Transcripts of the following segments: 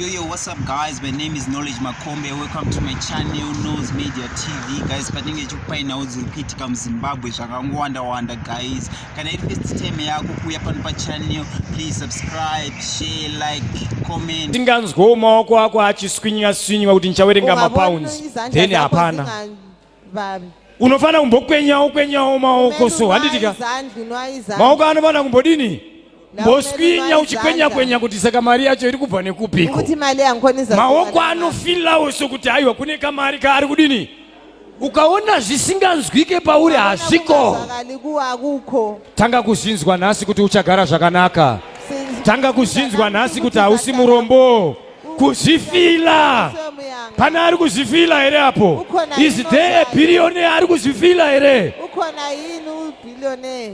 Yo, yo, what's up guys? My name is Knowledge Makombe. Welcome to my channel, Nose Media TV. Guys, patinge chikupainawo dziri kuitika muZimbabwe zvakangowanda-wanda guys. Kana iri first time yako kuuya pano pachannel, please subscribe, share, like, comment. Tinganzwo maoko ako achiswinywa-swinywa kuti ndichawerenga mapounds. Then hapana. Babe. unofanira kumbokwenyawo kwenyawo maoko so handitika maoko anofanira kumbodini mboswinya uchikwenya kwenya kuti saka mari yacho iri kubva nekupiko maoko anofilawo sokuti aiwa kune kamari kaari kudini ukaona zvisinganzwike pauri hazviko tanga kuzvinzwa nhasi kuti uchagara zvakanaka tanga kuzvinzwa nhasi kuti hausi murombo kuzvifila pane ari kuzvifila here apo is there a billionaire ari kuzvifila here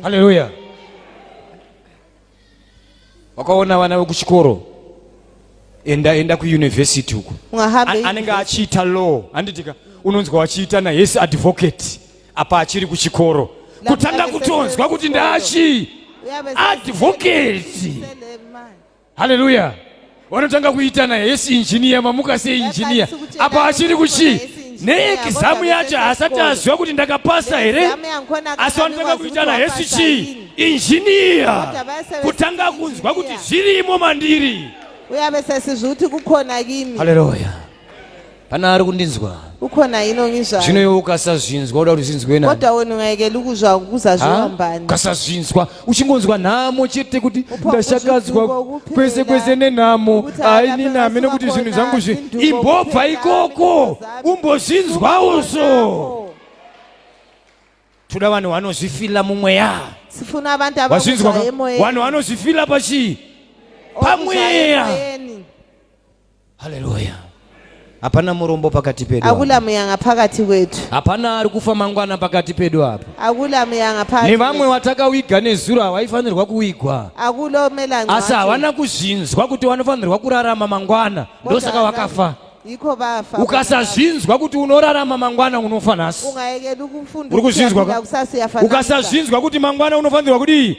haleluya wakaona vana vekuchikoro enda enda kuuniversity uko anenge achiita law handitika unonzwa wachiita nahesi advocate apa achiri kuchikoro kutanga kutonzwa kuti ndaachii advocate haleluya vanotanga kuitana yes injiniya mamuka sei injiniya apa achiri kuchii neekizamu yacho haasati aziva kuti ndakapasa here asi vanotanga kuitana hesi chii injiniya kutanga kunzwa kuti zvirimo mandiri uyavesesizvi kuti kukona kimi haleluya Pana ari kundinzwa. Ukhona yini ongizwayo? Zvino iwe ukasazvinzwa uda kuti zvinzwe nani? Kodwa wena ungayekela ukuzwa ukuzazviwa mbani? Ukasazvinzwa uchingonzwa nhamo chete kuti ndashakadzwa kwese kwese nenhamo haini nami nekuti zvinhu zvangu zvi imbobva ikoko umbozvinzwawo so. Toda vanhu vanozvifila mumweya. Sifuna abantu abazvinzwa emoyeni. Vanhu vanozvifila pachi? Pamweya. haleluya hapana murombo pakati pedu hakuna muyanga pakati kwedu hapana ari kufa mangwana pakati pedu apa hakuna muyanga pakati nevamwe watakawiga nezuro hawaifanirwa kuwigwa hakulo melango asi havana kuzvinzwa kuti wanofanirwa kurarama mangwana ndosaka wakafa iko vafa ukasazvinzwa kuti unorarama mangwana unofa nhasi ungayekeli ukufunda uri kuzvinzwa ukasazvinzwa kuti mangwana unofanirwa kudii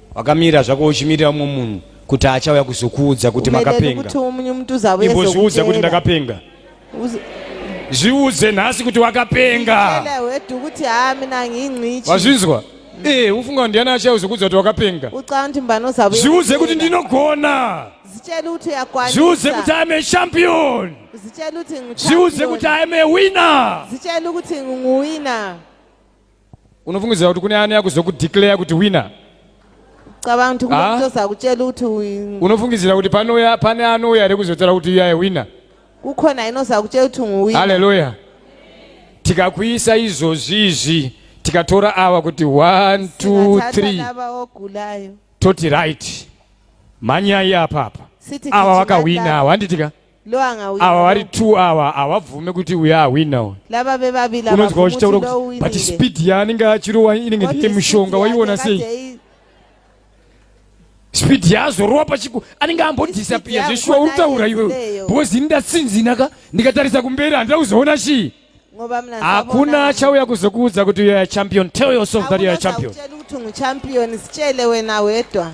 wakamira zvako uchimirira umwe munhu kuti achauya kuzokuudza kuti makapenga imbozviudza kuti ndakapenga zviudze nhasi kuti wakapenga wazvinzwa ee eh, ufunga ndiani achauya kuzokuudza kuti wakapenga zviudze kuti ndinogona zviudze kuti am a champion zviudze kuti am a winner unofungidzira kuti kune anoya kuzokudeclare kuti winner cabanga kuti Ah. kunozoza kutshela ukuthi uyi- unofungidzira kuti panoya pane anouya here kuzotaura kuti iyaye winner kukhona inoza kutshela ukuthi nguwini haleluya tikakuisa izvozvi izvi tikatora awa kuti 1 2 3 lava ogulayo toti right mhanyai apapa Sithi awa gijimai wakahwina lapha. awa handitika lo angawina ava vari two ava havabvume kuti uya ahwina uyu lava vevavili ava unonzwa vabvumi uchitaura kuti lo kuti but uwinile. speed yaanenge achirowa inenge What ndiye is mushonga it? waiona Yake sei kade i- speed yaazorowa pachiku anenge ambodhisapiya Speed zveshuwa yakona uri kutaura iwewe iyeyo. because ini ndatsinzina ka ndikatarisa kumberi handida kuzoona chii ngoba mna hakuna sabona. achauya kuzokuudza kuti youare champion tell yourself that youare Hakuna champion zakutshela ukuthi ungichampion sitshele wena wedwa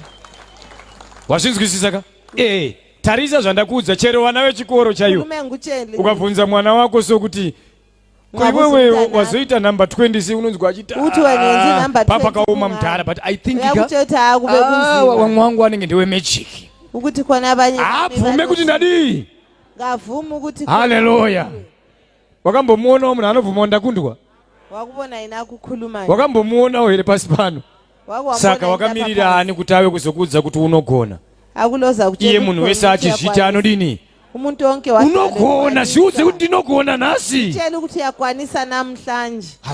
wazvinzwisisa ka ee tarisa zvandakuudza chero vana vechikoro chaivo ukabvunza mwana wako sokuti koiwewe wazoita number 20 si unonzwa achitipapakaoma ah, mudhara but i think ah, wamwe wangu wanenge ndewe magic abvume kuti ndadii haleluya wakambomuonawo munhu anobvumawo ndakundwa wakuvona aine akukhuluma wakambomuonawo here pasi pano saka wakamirira ani kuti ave kuzokuudza kuti unogona akuloza iye munhu wese achizviti anodini umuntu wonke unogona zviudze kuti ndinogona nhasi cheni kuti yakwanisa namhlanje